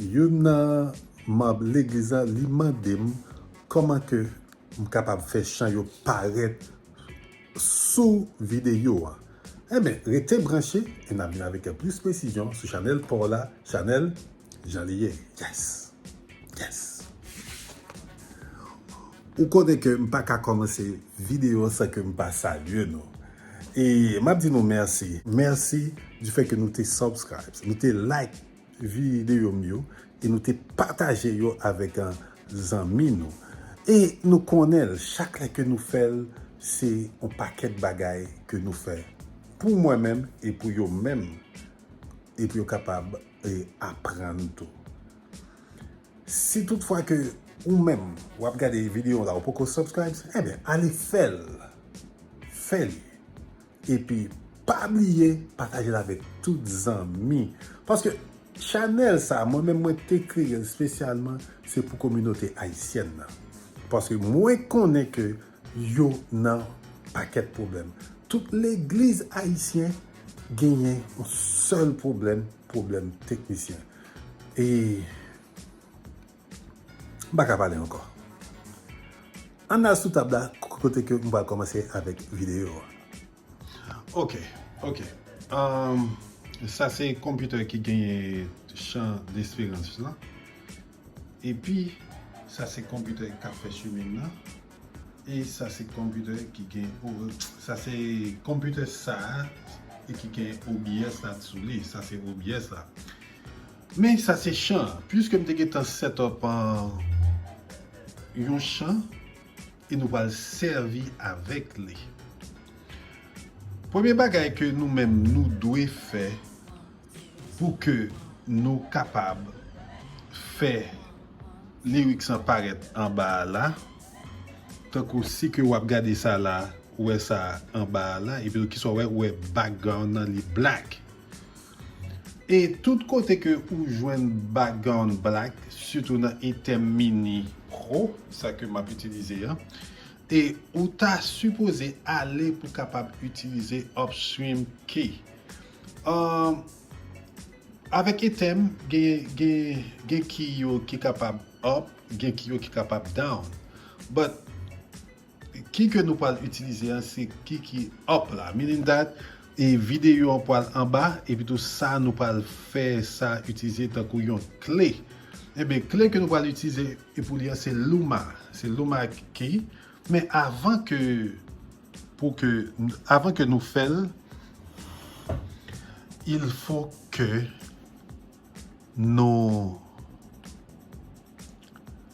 Youn nan manb legliz lan li mande m kòman ke m kapab fè chan yo parèt sou videyo an. Enben, rete branche e n ap vin avèk plis presizyon sou chanèl pa w la, chanèl Jan li ye. Yes! Yes! Ou konnen ke m pa ka kòmanse videyo san ke m pa salye nou. E m ap di nou mèsi. Mèsi di fè ke nou te subscribes, nou te like. Videyo m yo e nou te pataje yo avèk zanmi nou e nou konnen l chak lè ke nou fè l se yon pakèt bagay ke nou fè pou mwen menm e pou yo menm e pou yo kapab aprann tou. Si tout fwa ke ou menm w ap gade videyo la ou poko subscribes enben ale fè l fè li Epi pa bliye patajel avek tout zanmi. Paske chanel sa mwen menm mwen te kreyel spesyalman se pou kominote ayisyèn nan. Paske mwen konnen ke yo nan pakèt pwoblèm. Tout legliz ayisyen genyen yon sèl pwoblèm, pwoblèm teknisyen. E. M pa ka pale ankò. Ann al sou tab la kote ke m pral kòmanse avèk videyo a. Ok, ok. Sa se konpitè ki genyen chan desperans lan. Epi, sa se konpitè k ap fè chemin nan. E sa se konpitè ki gen, sa se konpitè sa a ki gen OBS la sou li. Sa se OBS la. Men sa se chan an. Puiske m te gentan set up yon chan e nou pral sèvi avèk li. Premye bagay ke nou menm nou dwe fè pou ke nou kapab fè lyrics lan parèt anba a la, tankou si ke wap gade sa la, ou wè sa anba a la, epi tou ki sa ou wè, ou wè background lan li black. E tout kote ke ou jwenn background black sitou nan item mini pro sa ke map itilize an e ou ta sipoze ale pou kapab itilize upstream key an avèk item gen key yo ki kapab up gen key yo ki kapab down but Ki ke nou pwal itilize an se ki ki up la. Meaning that e videyo an pwal anba epi tou sa nou pwal fè sa itilize tankou yon kle. Enben kle ke nou pwal itilize e pou li an se Luma. Se Luma key. Men avan ke pou ke avan ke nou fèl il fo ke nou.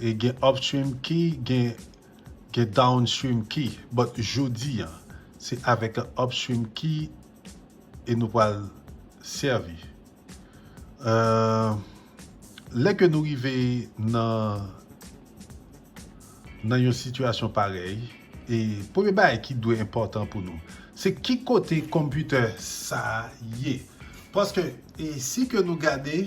E gen upstream ki gen gen downstream ki but jodi an se avek upstream ki e nou pral servi euh lè ke nou rive nan nan yon sitiyasyon parèy e premye bagay ki dwe enpòtan pou nou se ki kote computer sa ye paske e si ke nou gade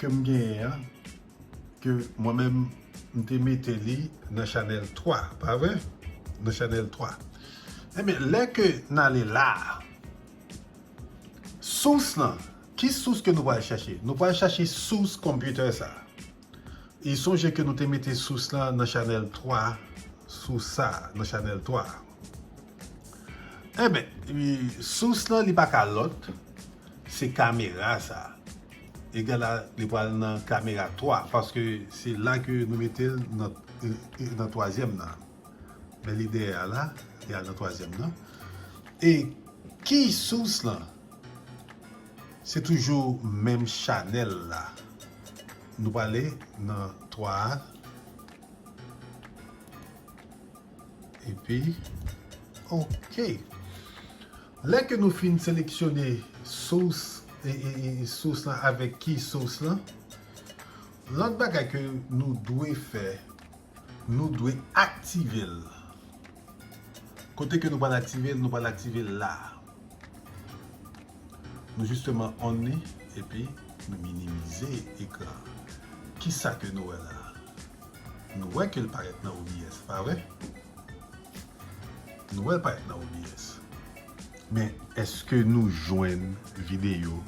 ke m genyen an ke mwen menm m te mete li nan chanèl 3 pa vre nan chanèl 3 enben lè ke n ale la sous lan ki sous ke nou pral chache nou pral chache sous konpyoutè sa e sonje ke nou te mete sous lan nan chanèl 3 sous sa nan chanèl 3. Enben, sous lan li pa ka lòt, se kamera sa. Egala li pral nan kamera 3, paske se la ke nou mete l nan twazyèm nan. Men li dèyè a la, li al nan twazyèm nan. E ki sous lan? Se toujou menm chanèl la. Nou prale nan 3 a. epi ok lè ke nou fin seleksyone sous sous lan avèk ki sous lan lòt bagay ke nou dwe fè nou dwe aktivel kote ke nou pral aktivel nou pral aktivel la nou jisteman on li epi nou minimize ekran kisa ke nou wè la Nou wè ke l parèt nan OBS, pa vre? Nou wè l parèt nan OBS. Men, eske nou jwenn videyo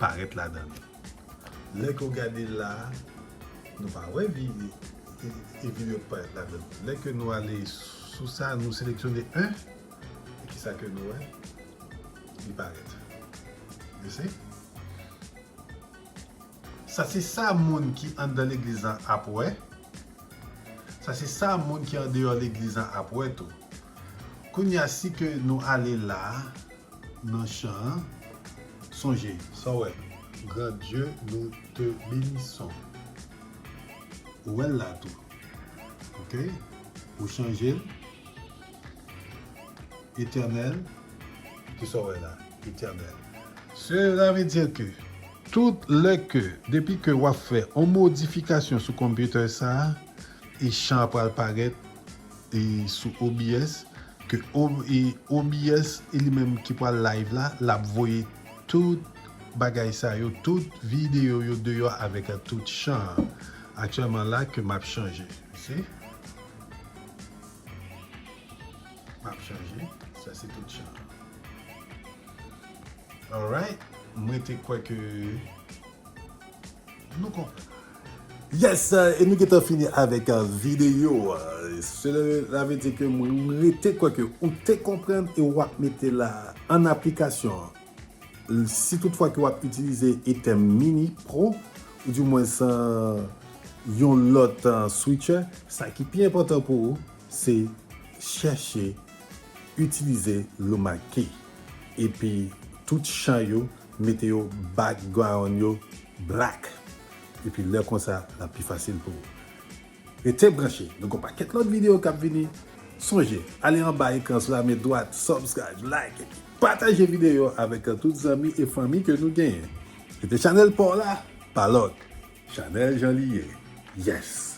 parèt ladan l? Lè ke w gade la a, nou pa wè videyo ki parèt ladan l. Lè ke nou ale sou sa, nou seleksyone 1, e kisa ke nou wè? Li parèt. You see? Sa se sa moun ki anndan legliz lan ap wè, sa se sa moun ki andeyò legliz lan ap wè tou. Kounye a, si ke nou ale la a, nan chan an, sonje, sa w wè? Gran Dye, nou te benison. Ou wè l la tou. Ok? Ou chanje l? Eternel, ki sa w wè la? Eternel. Sela ve dire ke tout lè ke, depi ke w ap fè yon modifikasyon sou computer sa a, e chan an pral parèt e sou OBS, ke o, e OBS e li menm ki pral live la, l ap voye tout bagay sa yo, tout videyo yo deyò avèk a tout chan an. Aktyèlman la ke m ap chanje. You see? Pap chanje, sa se tout chan. Alright, m rete kwè ke nou konprann. Yes, e nou gentan fini avèk videyo a. Sela vle di ke m rete kwè ke ou te konprann e wap mete la an aplikasyon. Si tout fwa ke wap itilize Etem Mini Pro ou di mwens yon lòt switcher, sa ki pi enpòtan pou ou se chèche itilize Luma Key epi tout chan yo mete yo background yo black epi lè konsa lap pi fasil pou ou. Rete branche, nou gen yon pakèt lòt videyo kap vini. Sonje ale anba ekran sou la men dwat, subscribe, like epi pataje videyo a avèk tout zanmi e fanmi ke nou genyen. Rete chanèl paw la, pa lòk chanèl jan li ye. Yes!